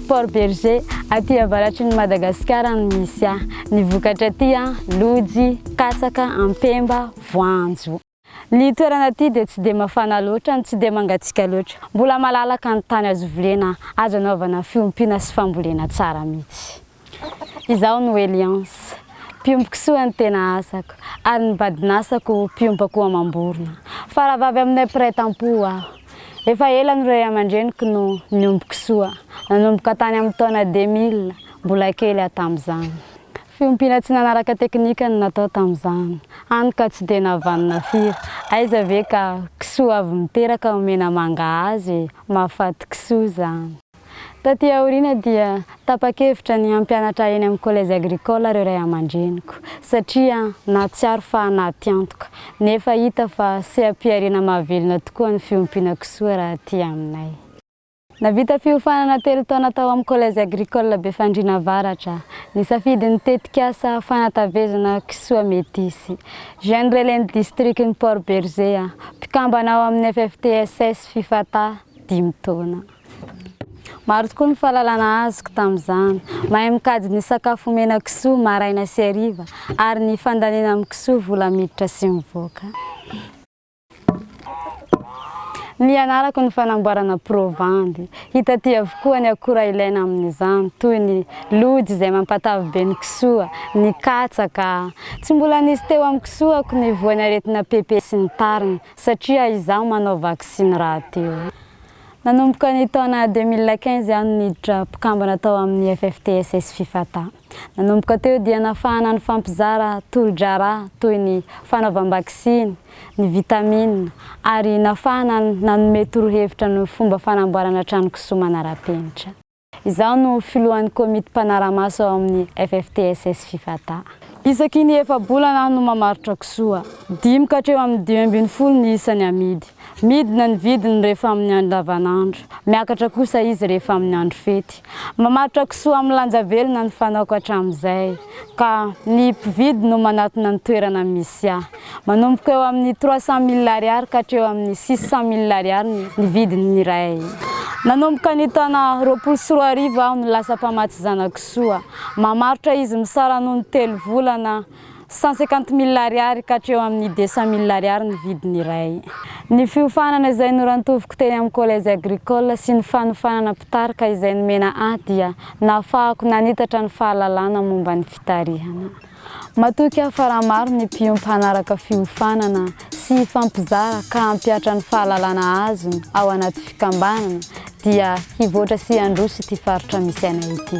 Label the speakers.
Speaker 1: Port Bergé, aty avaratry ny Madagasikara no misy ahy. Ny vokatra aty, lojy, katsaka, ampemba, voanjo. Ny toerana aty dia tsy dia mafana loatra no tsy dia mangatsiaka loatra. Mbola malalaka ny tany azo volena, azo anaovana fiompiana sy fambolena tsara mihitsy. Izaho no Eliance, mpiomboko soa ny tena asako, ary ny badin'asako mpiompako amam-borona. Faravavy aminay mpiray tampo aho. Efa ela no ray aman-dreniko no niomboko soa, nanomboka tany amin'ny taona 2000, mbola kely aho tamin'izany. Fiompiana tsy nanaraka teknika no natao tamin'izany, hany ka tsy dia navanona firy, aiza ve ka kisoa avy miteraka omena manga azy e, mahafaty kisoa izany. Taty aoriana dia tapa-kevitra ny hampianatra eny amin'ny collège agricole ireo ray aman-dreniko satria nahatsiaro fa anaty antoka, nefa hita fa seha-pihariana mahavelona tokoa ny fiompiana kisoa raha aty aminay. Nahavita fiofanana telo taona tao amin'ny collège agricole Befandriana Avaratra, nisafidy ny tetikasa fanatavezana kisoa metisy. Jeune relais ny distrikan'i Port Bergé aho, mpikambana ao amin'ny FFTSS Fifata, dimy taona. Maro tokoa ny fahalalana azoko tamin'izany. Mahay mikajy ny sakafo omena kisoa maraina sy hariva ary ny fandaniana amin'ny kisoa vola miditra sy mivoaka. Nianarako ny fanamboarana provandy. Hita aty avokoa ny akora ilaina amin'izany toy ny lojy izay mampatavy be ny kisoa, ny katsaka. Tsy mbola nisy teo amin'ny kisoako ny voan'ny aretina PP sy ny tariny satria izaho manao vaksiny rahateo. Nanomboka ny taona deux mille quinze aho no niditra mpikambana tao amin'ny FFTSS Fifata. Nanomboka teo dia nafahana nifampizara tolo-draharaha toy ny fanaovam-baksiny, ny vitamina ary nafahana nanome torohevitra ny fomba fanamboarana trano kisoa manara-penitra. Izaho no filohan'ny komity mpanara-maso ao amin'ny FFTSS Fifata. Isaky ny efa-bolana aho no mamarotra kisoa. Dimy ka hatreo amin'ny dimy ambin'ny folo ny isany amidy. Midina ny vidiny rehefa amin'ny andro lavanandro. Miakatra kosa izy rehefa amin'ny andro fety. Mamaritra kisoa amin'ny lanja velona ny fanaoko hatramin'izay. ka ny mpividy no manatona ny toerana misy ahy. Manomboka eo amin'ny trois cent mille ariary ka hatreo amin'ny six cent mille ariary ny vidiny ny iray. Nanomboka ny taona roapolo sy roa arivo aho no lasa mpamatsy zanakisoa. Mamarotra izy misara noho ny telo volana cent cinquante mille ariary ka hatreo amin'ny deux cent mille ariary ny vidiny iray. Ny fiofanana izay norantoviko teny amin'ny collège agricole sy ny fanofanana mpitarika izay nomena ahy dia nahafahako nanitatra ny fahalalana momba ny fitarihana. Matoky aho fa raha maro ny mpiompy hanaraka fiofanana sy hifampizara ka hampihatra ny fahalalana azony ao anaty fikambanana dia hivoatra sy handroso ity faritra misy anay ity.